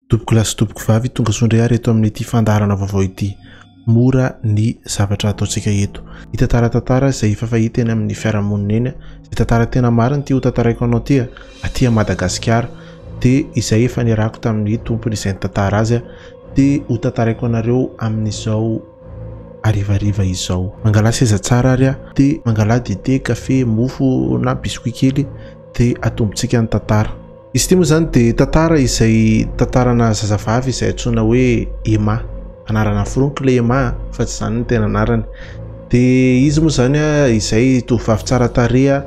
Tompoko lahy sy tompoko vavy, tonga soa indray ary eto amin'ity fandaharana vaovao ity. Mora ny zavatra ataontsika eto. Hitantara tantara izay efa fahita eny amin'ny fiarahamonina eny, izay tantara tena marina ity hotantaraiko anao ity, aty Madagasikara. Dia izay efa niarahako tamin'ny tompony izay nitantara azy dia hotantaraiko anareo amin'izao harivariva izao. Mangalà seza tsara ary aho, dia mangalà dite, kafe, mofo na biscuit kely dia atombontsika ny tantara. Izy ity moa izany dia tantara izay tantarana zazavavy izay antsoina hoe Emma. Anarana foroniko ilay Emma fa tsy izany ny tena anarany. Dia izy moa izany izay tovovavy tsara tareha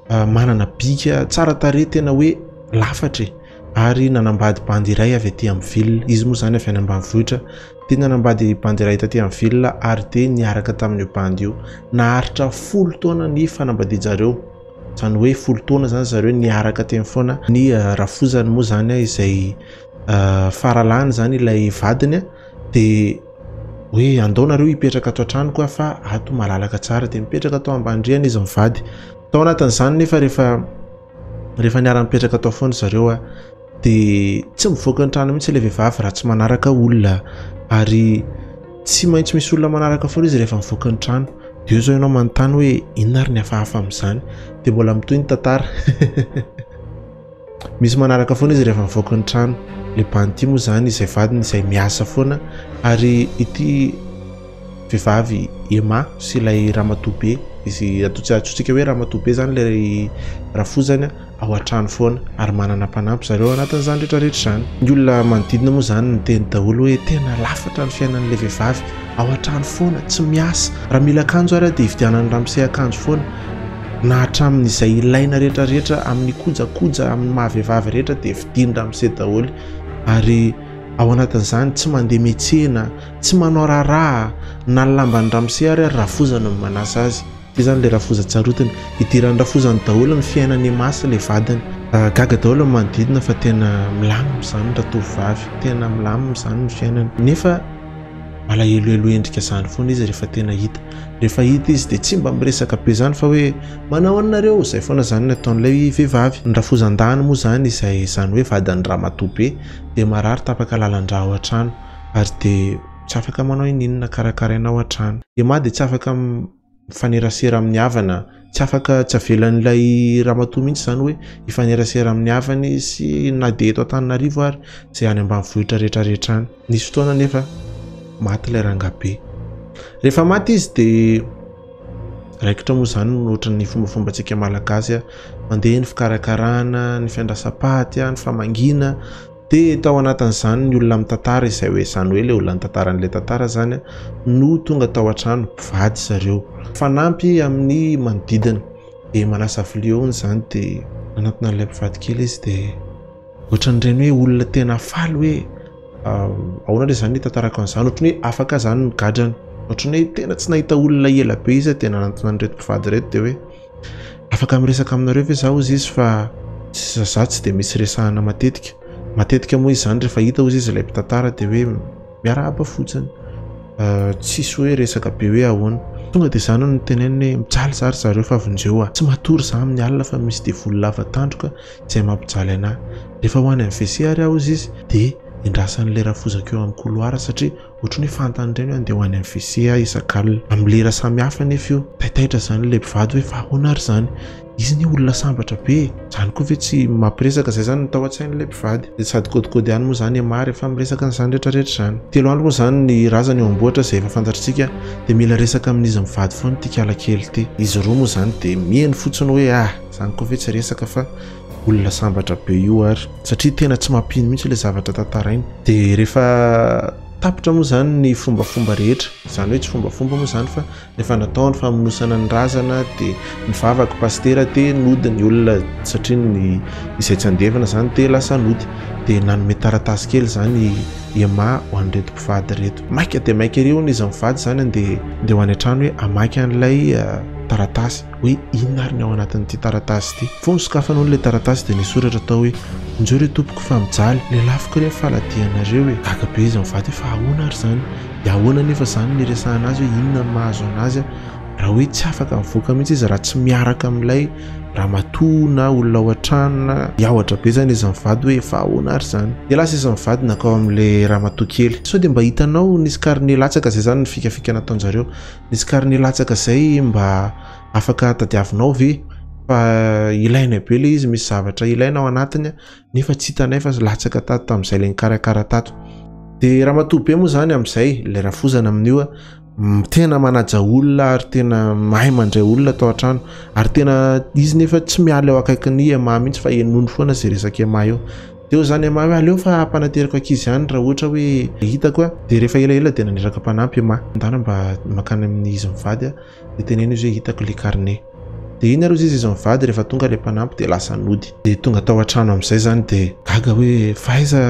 ah, manana bika tsara tareha tena hoe lafatra e. Ary nanambady bandy iray avy aty amin'ny ville. Izy moa izany avy any ambanivohitra. Dia nanambady bandy iray taty amin'ny ville ary dia niaraka tamin'io bandy io. Naharitra folo taona ny fanambadian-jareo. izany hoe folo taona izany zareo niaraka teny foana ny ah, rafozany moa izany ah, izay ah, faralany izany ilay vadiny ah, dia hoe andao nareo hipetraka ato an-tranoko ah, fa ato malalaka tsara dia mipetraka ato ambandriana izy mivady tao anatin'izany nefa rehefa rehefa niara-mipetraka tao foana zareo ah, dia tsy mivoaka ny trano mihitsy ilay vehivavy raha tsy manaraka olona ary tsy maintsy misy olona manaraka foana izy rehefa mivoaka ny trano dia eo izao ianao manontany hoe inona ary ny hafahafa amin'izany dia mbola mitohy ny tantara misy manaraka foana izy rehefa mivoaka ny trano le banty moa izany izay vadiny izay miasa foana ary ity vehivavy ema sy ilay ramatoa be izy atao tsy atsotsika hoe ramatoa be izany ilay rafozany ao an-trano foana ary manana mpanampy zareo ao anatin'izany rehetra rehetra izany. Ny olona manodidina moa izany niteny daholo hoe tena lafatra ny fiainan'ilay vehivavy, ao an-trano foana, tsy miasa, raha mila akanjo ary dia ividianan'i Ramsey akanjo foana, na hatramin'izay ilaina rehetra rehetra amin'ny kojakoja amin'ny maha vehivavy rehetra dia vidian'i Ramsey daholo ary ao anatin'izany tsy mandeha mihetsena, tsy manao raharaha, na ny lamban'i Ramsey ary ary rafozana no manasa azy. Izany le rafoza tsarotiny. Idirany rafozany daholo ny fiainany ema sy le vadiny. Gaga daholo ny manodidina fa tena milamina izany ratovovavy, tena milamina izany ny fiainany. Nefa malahelohelo endrika izany foana izy rehefa tena hita. Rehefa hita izy dia tsy mba miresaka be izany fa hoe manao ahoana nareo? Izay foana izany ny ataon'ilay vehivavy. Ny rafozan-dahany moa izany izay izany hoe vadin'ny ramatoa be dia marary tapaka lalan-dra ao an-trano ary dia. tsy afaka manao ininona, karakarainao hatrany. Dia mah dia tsy afaka mifanerasera amin'ny havana, tsy afaka, tsy avelan'ilay ramatoa mihitsy izany hoe hifanerasera amin'ny havany sy na dia eto Antananarivo ary izay any ambanivohitra rehetra rehetra any. Nisy fotoana anefa maty ilay rangahibe. Rehefa maty izy dia raikitra moa izany no ohatry ny fombafombantsika malagasy, mandeha ny fikarakarana, ny fiandrasam-paty, ny famangiana, Dia tao anatin'izany ny olona mitantara izay hoe izany hoe ilay olona nitantara an'ilay tantara izany no tonga tao an-trano, mpivady zareo. Mifanampy amin'ny manodidina. Dia manasa vilia hono izany dia manantona an'ilay mpivady kely izy dia ohatran'ireny hoe olona tena faly hoe ahoana ilay izany hitantarako an'izany, ohatran'ny hoe afaka izany ny gadrany. Ohatran'ny hoe tena tsy nahita olona ela be izy dia nanantona an'ireto mpivady ireto dia hoe. Afaka miresaka aminareo ve izaho hozy izy fa izaho tsy dia misy resahana matetika. Matetika moa izany rehefa hita hozy izy ilay mpitantara dia hoe miarahaba fotsiny. Tsisy hoe resaka be hoe ahoana. Tonga dia izany no teneniny hoe mijaly izaho ry zareo fa vonjeo aho. Tsy matory izaho amin'ny alina fa misy devoly lava tandroka izay mampijaly an'ahy. Rehefa ho any amin'ny WC ary aho hozy izy dia endrasan'ilay rafozako eo amin'ny koloara satria Ohatry ny hoe fantany ireny hoe andeha ho any amin'ny WC aho isak'alina. Amin'ny lera samihafa anefa io. Taitaitra izany ilay mpivady hoe fa ahoana ary izany? Izy anie olona sambatra be e! Izany koa ve tsy mampiresaka? Izay izany no tao an-tsain'ilay mpivady. Dia sady kôdikôdy ihany moa izany Emma rehefa miresaka an'izany rehetrarehetra izany. Telo andro moa izany ny razana eo am-bohitra izay efa fantatritsika dia mila resaka amin'izy mivady foana ity kala kely ity. Izy roa moa izany dia mihaino fotsiny hoe ah! Izany koa ve tsy resaka fa. olona sambatra be io ary satria tena tsy mampino mihitsy ilay zavatra tantarainy dia rehefa tapitra moa izany ny fombafomba rehetra izany hoe tsy fombafomba moa izany fa rehefa natao ny famonosana ny razana dia ny vavako pastera dia nody ny olona satria ny izay tsy andevina izany dia lasa nody dia nanome taratasy kely izany ema ho an'ireto mpivady ireto maika dia maika ery hono izy mivady izany dia ndeha ho any an-trano hoe hamaky an'ilay eh, taratasy hoe inona ary ny ao anatin'ity taratasy ity. Vao nosokafana hono ilay taratasy dia nisy soratra tao hoe Injeo re tompoko fa mijaly, lelafiko re ny faladianareo e! Gaga be izy mivady hoe fa ahoana ary izany? Dia ahoana anefa izany no iresahana azy hoe inona no mahazo an'azy raha hoe tsy afaka mivoaka mihitsy izy raha tsy miaraka amin'ilay ramatoa na olona ao an-trano na miahotra be izany izy mivady hoe fa ahoana ary izany? Dia lasa izy mivady nankao amin'ilay ramatoa kely. Sao dia mba hitanao nisy karine latsaka izay izany ny fikafika nataon-jareo. Misy carnet latsaka zay mba afaka tadiavinao ve fa ilaina be le izy misy zavatra ilaina ao anatiny nefa tsy hitanay fa latsaka tato tamin'izay le nikarakara tato de ramatoa be moa zany amin'izay le rafozana amin'io tena manaja olona ary tena mahay mandray olona tao an-trano ary tena izy nefa tsy miala eo akaikin'ny ema mihitsy fa enony foana zay resaka ema eo Teo izany Emma hoe aleo fa hanateriko ankizy ihany raha ohatra hoe hitako a. Dia rehefa elaela dia naniraka mpanampy Emma. Ndana mba mankany amin'ny izy mivady aho dia teneno izy hoe hitako ilay carnet. Dia iny ary hozy izy izy mivady rehefa tonga ilay mpanampy dia lasa nody. Dia tonga tao an-trano amin'izay izany dia gaga hoe fa aiza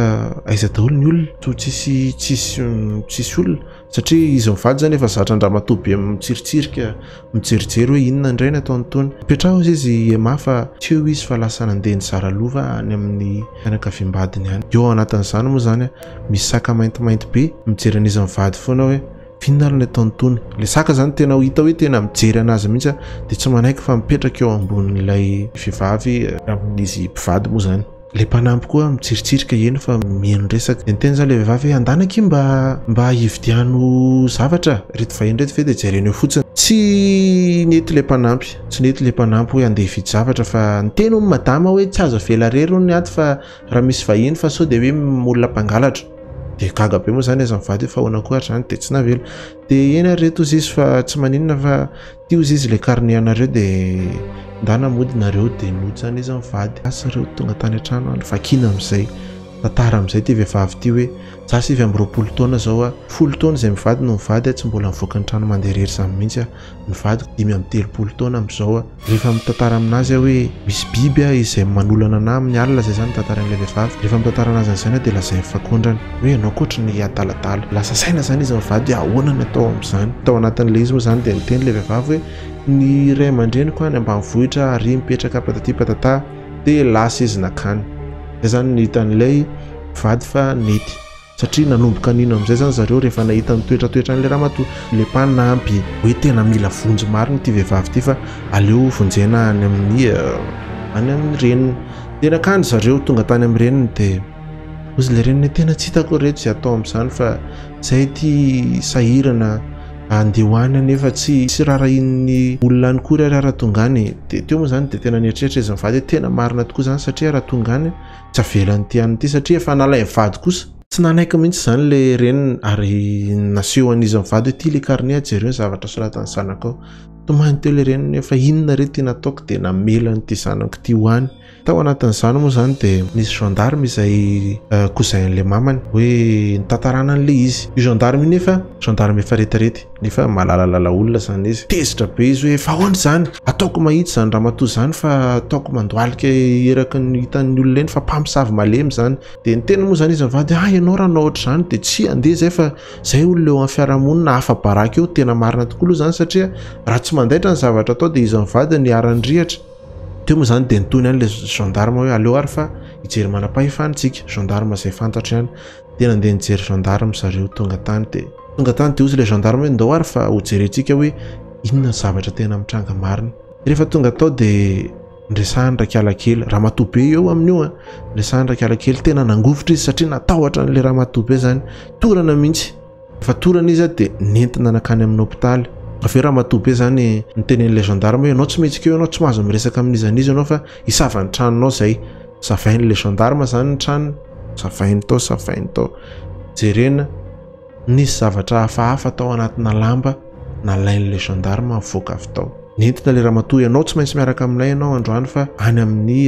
aiza daholo ny olona? Toa tsisy tsisy tsisy olona. Satria izy mivady izany efa zatra an-dramatoa be mitsiritsirika, mijerijery hoe inona indray ny ataon'itony. Petraho hozy izy i Emma fa teo izy fa lasa nandeha nizara lova any amin'ny fianakaviam-badiny any. Eo anatin'izany moa izany, misy saka maintimainty be mijery an'izy mivady foana hoe inona ary ny ataon'itony. Ilay saka izany tena ho hita hoe tena mijery an'azy mihitsy dia tsy manaiky fa mipetraka eo ambonin'ilay vehivavy. Amin'izy mpivady moa izany. Ilay mpanampy koa mitsiritsirika, heno fa mihaino resaka. Dia nitenin'izany ilay vehivavy hoe, Andana akia mba mba hividiano zavatra ireto vahiny ireto ve dia jereny eo fotsiny. Tsy nety ilay mpanampy, tsy nety ilay mpanampy hoe handeha hividy zavatra fa niteny hono madama hoe tsy azo avela irery hono ato fa raha misy vahiny fa sao dia hoe olona mpangalatra. Dia gaga be moa izany aiza ny vady hoe fa ahoana koa ary izany dia tsy navela. Dia eny ary ireto hozizy fa tsy maninona fa Ty ozy izy le carnet anareo de ndana mody nareo de notsan izy mivady asa ireo tonga tany antrano any vakina amizay tantara amizay ty vevavy ty hoe za sivy amby roapolo taona zao a folo taona izay mivady no mivady a tsy mbola mivoaka ny trano mande irery zany mihitsy a ny vadiko dimy amby telopolo taona amizao a rehefa mitantara aminazy a hoe misy biby a izay manolana anah aminy alina zay zany tantarain'ilay vevavy rehefa mitantara anazy anizany a de lazainy fa kondrany hoe ianao koatry ny adaladala. Lasa saina izany izy mivady hoe ahoana ny atao amin'izany. Tao anatin'ilay izy moa izany dia niteny ilay vehivavy hoe ny ray aman-dreniko any ambanivohitra ary mipetraka patati patata dia lasa izy nakany. Izay izany no hitan'ilay mpivady fa nety satria nanomboka nino amin'izay izany zareo rehefa nahita ny toetratoetran'ilay ramatoa. Ilay mpanampy hoe tena mila vonjy marina ity vehivavy ity fa aleo vonjena any amin'ny any amin'ny reniny. Dia nakany zareo, tonga tany amin'ny reniny dia. Ozy le reny tena tsy hitako reto izay atao amin'izany fa izay ity sahirana andeha ho any anefa tsy tsy rarahin'ny olona any kory ary raha tonga any dia teo moa izany dia tena nieritreritra izy mivady hoe tena marina tokoa izany satria raha tonga any tsy avelan'ity any ity satria efa nalain'ny vady kosa. Tsy nanaiky mihitsy izany ilay reniny ary nasehon'izy mivady hoe ity ilay carnet jereo ny zavatra soratan'ny zanakao. Tomany teo ilay reniny hoe fa inona re ity nataoko dia namela an'ity zanako ity ho any. Tao anatin'izany moa izany dia nisy gendarme izay cousin an'ilay mamany hoe nitantarana an'ilay izy. Io gendarme io nefa gendarme efa retirety nefa malalalala olona izany izy. Tezitra be izy hoe efa ahoana izany? Ataoko mahitsy izany ramatoa izany fa ataoko mandohalika eraky ny hitan'ny olona eny fa mpamosavy malemy izany. Dia niteny moa izany izy mivady hoe ah ianao raha hanao ohatr'izany dia tsia handeha izay fa izay olona eo amin'ny fiarahamonina afa-baraka eo. Tena marina tokoa aloha izany satria raha tsy mandaitra ny zavatra atao dia izy mivady no iharan'ny rihatra. Teo moa izany dia nitony ihany ilay gendarme hoe aleo ary fa hijery manam-pahefana isika, gendarme izay fantatro ihany. Dia nandeha nijery gendarme zareo tonga tany dia tonga tany dia hozy ilay gendarme hoe ndao ary fa hojerentsika hoe inona ny zavatra tena mitranga marina. Rehefa tonga tao dia niresahany Rakiala kely, ramatoa be eo amin'io an, niresahany Rakiala kely, tena nangovitra izy satria natahotra an'ilay ramatoa be izany, torana mihitsy. Fatorana izy a dia nentina nankany amin'ny hopitaly. Avy eo ramatoa be izany niteny an'ilay gendarme hoe ianao tsy mihetsika eo ianao, tsy mahazo miresaka amin'iza n'iza ianao fa hisava ny tranonao izay. Savain'ilay gendarme izany ny tranony, savainy tao, savainy tao. Jerena, nisy zavatra hafahafa tao anatina lamba nalain'ilay gendarme nivoaka avy tao. Nentina ilay ramatoa hoe ianao tsy maintsy miaraka aminay ianao androany fa any amin'ny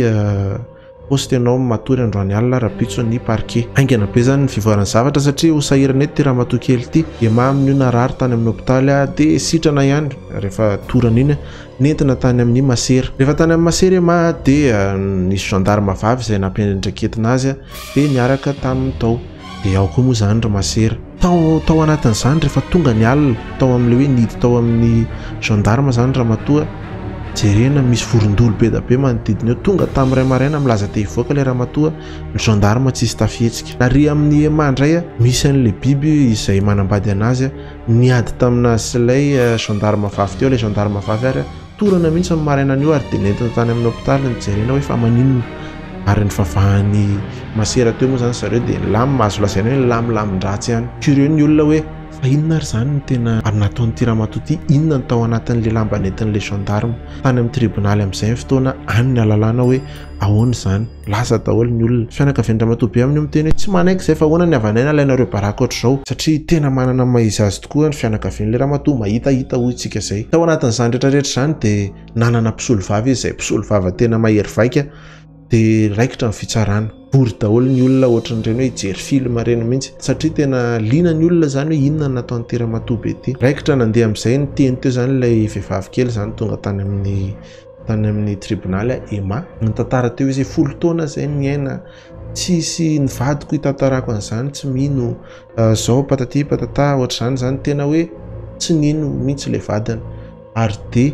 Poste ianao no matory androany alina rapitso ny parquet. Haingana be zany ny fivoaran'ny zavatra satria ho sahirana eto ty ramatoa kely ty. Dia mamy ny ho narary tany amin'ny hopitaly ah dia sitrana ihany rehefa torana iny nentina tany amin'ny masera. Rehefa tany amin'ny masera i Mah dia nisy gendarme vavy izay nampiandraiketina azy dia niaraka taminy tao. Dia ao koa moa izany ry masera. Tao tao anatin'izany rehefa tonga ny alina, tao amin'ilay hoe nidy tao amin'ny gendarme izany ramatoa, jerena misy vorondolo be dia be manodidina eo, tonga tamin'ny iray maraina milaza te hivoaka ilay ramatoa, ny gendarme tsisy tafihetsika. Ary amin'ny ema indray, misy an'ilay biby izay manambady an'azy niady tamin'azy sy ilay gendarme vavy teo, ilay gendarme vavy ary. Torana mihitsy ny marainan'io ary dia nentina tany amin'ny hopitaly ny jerena hoe fa maninona ary ny vavahan'ny masera teo moa izany zareo dia nilamina, azo lazaina hoe nilamilamin-dratsy ihany. Curieux ny olona hoe fa inona ary izany no tena nataon'ity ramatoa ity, inona no tao anatin'ilay lamba nentin'ilay gendarme tany amin'ny tribonaly amin'izay fotoana any ny alalana hoe Ahoana izany? Lasa daholo ny olona. Fianakavian'i Ramatoa Beamina io miteny hoe tsy manaiky izay fa ahoana ny havanay nalainareo baraka ohatr'izao? Satria tena manana ny maha izy azy tokoa ny fianakavian'ilay ramatoa, mahitahita hoy isika izay. Tao anatin'izany rehetra rehetra izany dia nanana mpisolovava izy izay mpisolovava tena mahery vaika dia raikitra ny fitsarana. Vory daholo ny olona ohatran'ireny hoe hijery film ireny mihitsy satria tena liana ny olona izany hoe inona no nataon'ity ramatoa be ity. Raikitra nandeha amin'izay ny teny teo izany ilay vehivavy kely izany tonga tany amin'ny tany amin'ny tribonaly aho Emma nitantara teo izay folo taona izay niaina tsisy ny vadiko hitantarako an'izany tsy mino ah, zao pataty patata ohatr'izany izany tena hoe tsy nino mihitsy ilay vadiny ary dia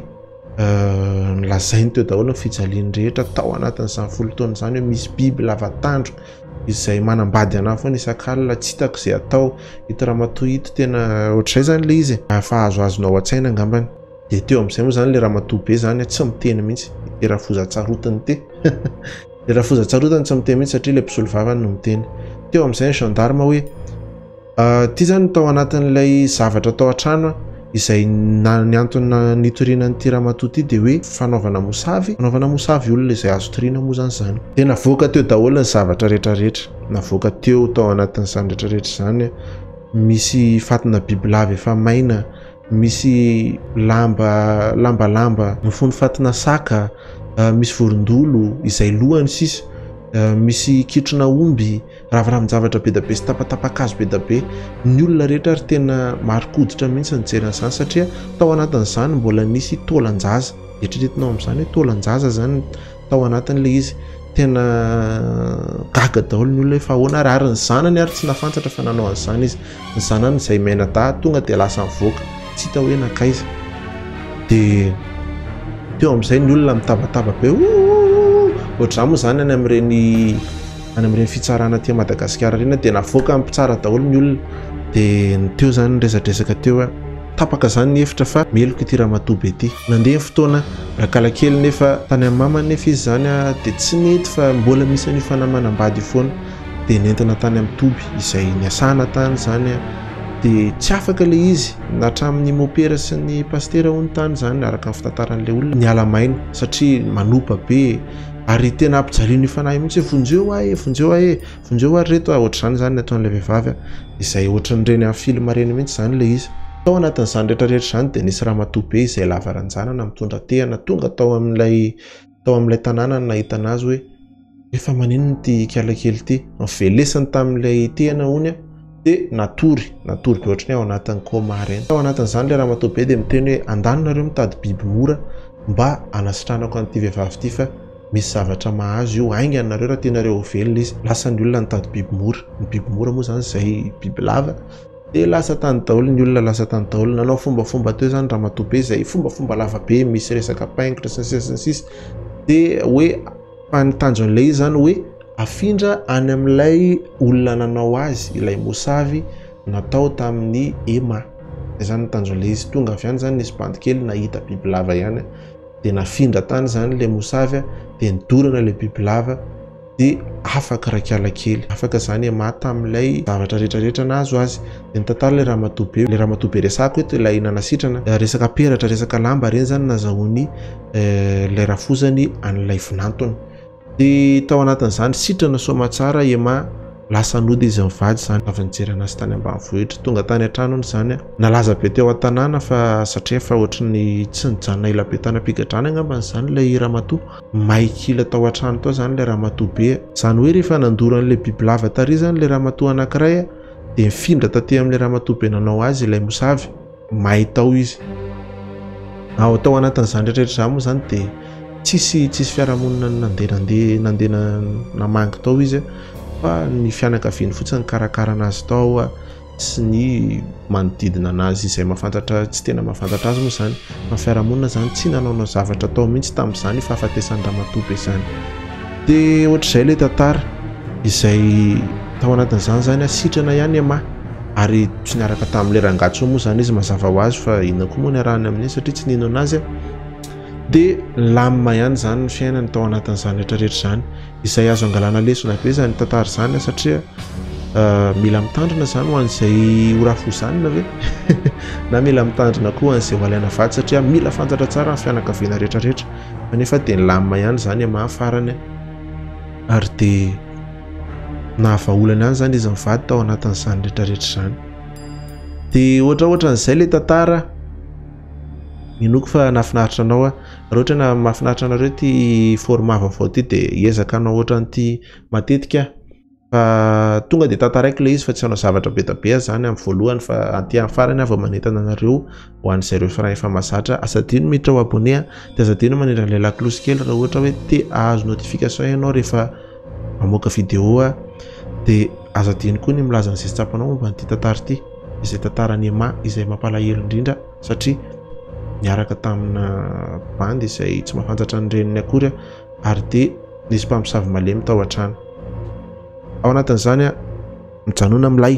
ah, nilazainy teo daholo ny fijaliany rehetra tao anatin'izany folo taona izany hoe misy biby lavatandro izay manambady anah foana isak'alina tsy hitako izay atao ito ramatoa ito tena ohatr'izay izany ilay izy ah, fa azoazonao an-tsaina angambany Dia teo amin'izay moa izany ilay ramatoa be izany tsy miteny mihitsy, ity Rafozantsarotiny ity. Ilay Rafozantsarotiny tsy miteny mihitsy satria ilay mpisolo vavany no miteny. Teo amin'izay ny gendarme hoe ity izany tao anatin'ilay zavatra tao an-trano izay ny antony nitoriana an'ity ramatoa ity dia hoe fanaovana mosavy, fanaovana mosavy olona izay azo toriana moa izany izany. Dia navoaka teo daholo ny zavatra rehetra rehetra, navoaka teo tao anatin'izany rehetra rehetra izany misy fatina bibilava efa maina, Misy lamba lambalamba mifono fatina saka, misy vorondolo izay lohany sisa, misy kitrona omby, raviravin-javatra be dia be sy tapatapakazo be dia be. Ny olona rehetra ary tena marin-koditra mihitsy ny nijery an'izany satria tao anatin'izany mbola nisy taolan-jaza. Eritreretinao amin'izany hoe taolan-jaza izany. tao anatiny ilay izy, tena gaga daholo ny olona hoe fa ahoana ary, ary ny zanany ary tsy nafantsatra fa nanao an'izany izy, ny zanany izay mianadahy tonga dia lasa nivoaka tsy hita hoe nankaiza, dia teo amin'izay ny olona mitabataba be oh ohatr'izany moa izany any amin'ireny any amin'ireny fitsarana aty Madagasikara ireny dia navoaka mpitsara daholo ny olona dia ny teo izany ny resadresaka teo. Tapaka zany ny efitra fa meloka ity ramatoa be ty. Nandeha ny fotoana, rakala kely nefa tany amin'ny mamany nefa izy zany dia tsy nety fa mbola misy an'io fanamanam-bady io foana. Dia nentina tany amin'ny toby izay niasana tany zany dia tsy afaka ilay izy na hatramin'ny mopera sy ny pasitera hono tany zany araka ny fitantaran'ilay olona niala maina satria manopa be e! Ary tena ampijalian'io fanahy io mihitsy hoe vonjeo ahy e! Vonjeo ahy e! Vonjeo ary reto a, ohatr'izany izany ny ataon'ilay vehivavy a, izay ohatran'ireny amin'ny film ireny mihitsy izany ilay izy. Tao anatin'izany rehetra rehetra izany dia nisy ramatoa be izay lava ranjanana mitondra tehana tonga tao amin'ilay tao amin'ilay tanàna no nahitana azy hoe, efa maninona ity ikala kely ity? Novelesiny tamin'ilay tehana hono a, dia natory, natory be ohatry ny hoe ao anatin'ny coma ireny. Tao anatin'izany ilay ramatoa be dia miteny hoe, andany nareo mitady biby mora mba hanasitranako an'ity vehivavy ity fa. Misy zavatra mahazo io haingana nareo raha tianareo ho velona izy. Lasa ny olona nitady biby mora. Ny biby mora moa zany zay biby lava. Dia lasa tany daoly ny olona lasa tany daoly. Nanao fombafomba teo zany ramatoa be zay fombafomba lava be misy resaka paingotra sy ny sisa sy ny sisa. Dia hoe fa ny tanjon'ilay izy zany hoe afindra any amin'ilay olona nanao azy ilay mosavy natao tamin'ny ema. Zay zany ny tanjon'ilay izy. Tonga avy any zany nisy bandy kely nahita biby lava ihany. dia nafindra tany izany ilay mosavy dia nidorana ilay bibilava dia afaka rakiala kely afaka izany ema tamin'ilay zavatra rehetrarehetra nahazo azy dia nitantara ilay ramatoa be ilay ramatoa be resako eto ilay nanasitrana eh, resaka peratra resaka lamba ireny izany nazahoany eh, ilay rafozany an'ilay vinantony Dia tao anatin'izany sitrana soamatsara Emma lasa nody izy mivady izany avy nijery anazy tany ambanivohitra. Tonga tany an-trano hono izany an. Nalaza be teo an-tanàna fa satria efa ohatry ny tsy nijanona ela be tany am-pigadrana angambany izany ilay ramatoa. May kila tao an-trano tao izany ilay ramatoa be an. Izany hoe rehefa nandoro an'ilay bibilava tary izany ilay ramatoa anankiray an, dia nifindra taty amin'ilay ramatoa be nanao azy ilay mosavy. may tao izy. Ao tao anatin'izany rehetra izany moa izany dia tsisy tsisy fiarahamonina nandeha nandeha nandeha namangy tao izy fa ny fianakaviany fotsiny nikarakarana azy tao sy ny manodidina anazy izay mahafantatra tsy tena mahafantatra azy moa izany fa fiarahamonina izany tsy nanaonao zavatra tao mihitsy tamin'izany fahafatesan'ny ramatoa be izany dia ohatr'izay ilay tantara izay tao anatin'izany izany asitrana ihany ema ary tsy niaraka tamin'ilay rangahy intsony moa izany izy mazava ho azy fa inona koa moa niarahany amin'iny satria tsy nino anazy dia lamina ihany izany ny fiainany tao anatin'izany rehetra rehetra izany izay azo angalana lesona be izany tantara izany satria euh, mila mitandrina izany ho an'izay horafozanina ve na mila mitandrina koa an'izay ho alaina vatsy satria mila fantatra tsara ny fianakaviana rehetra rehetra kanefa dia ny lamina ihany izany amin'ny farany ary dia nahavaholana ihany izany izy mivady tao anatin'izany rehetrarehetra izany dia ohatra ohatra an'izay le tantara inoako fa nahafinaritra anao a raha ohatra na mahafinaritra anareo ty format vaovao ty dia ezaka anao ohatra an'ity matetika fa tonga dia tantaraiko le izy fa tsy hanao zavatra be da be aho izany amin'ny voalohany fa aty amin'ny farany aho vao manentana anareo ho an'izay ireo firaha efa mazatra aza adino miditra ao abonné dia aza adino manindra ilay lakolosy kely raha ohatra hoe te ahazo notification ianao rehefa mamoaka vidéo dia aza adino koa ny milaza an'izay tsy tsapanao momba an'ity tantara ity izay tantaran'i Emma izay mampalahelo indrindra satria niaraka tamina bandy izay tsy mafantsatra ny reniny akory ary dia nisy mpamosavy malemy tao an-trano ao anatin'izany mijanona milay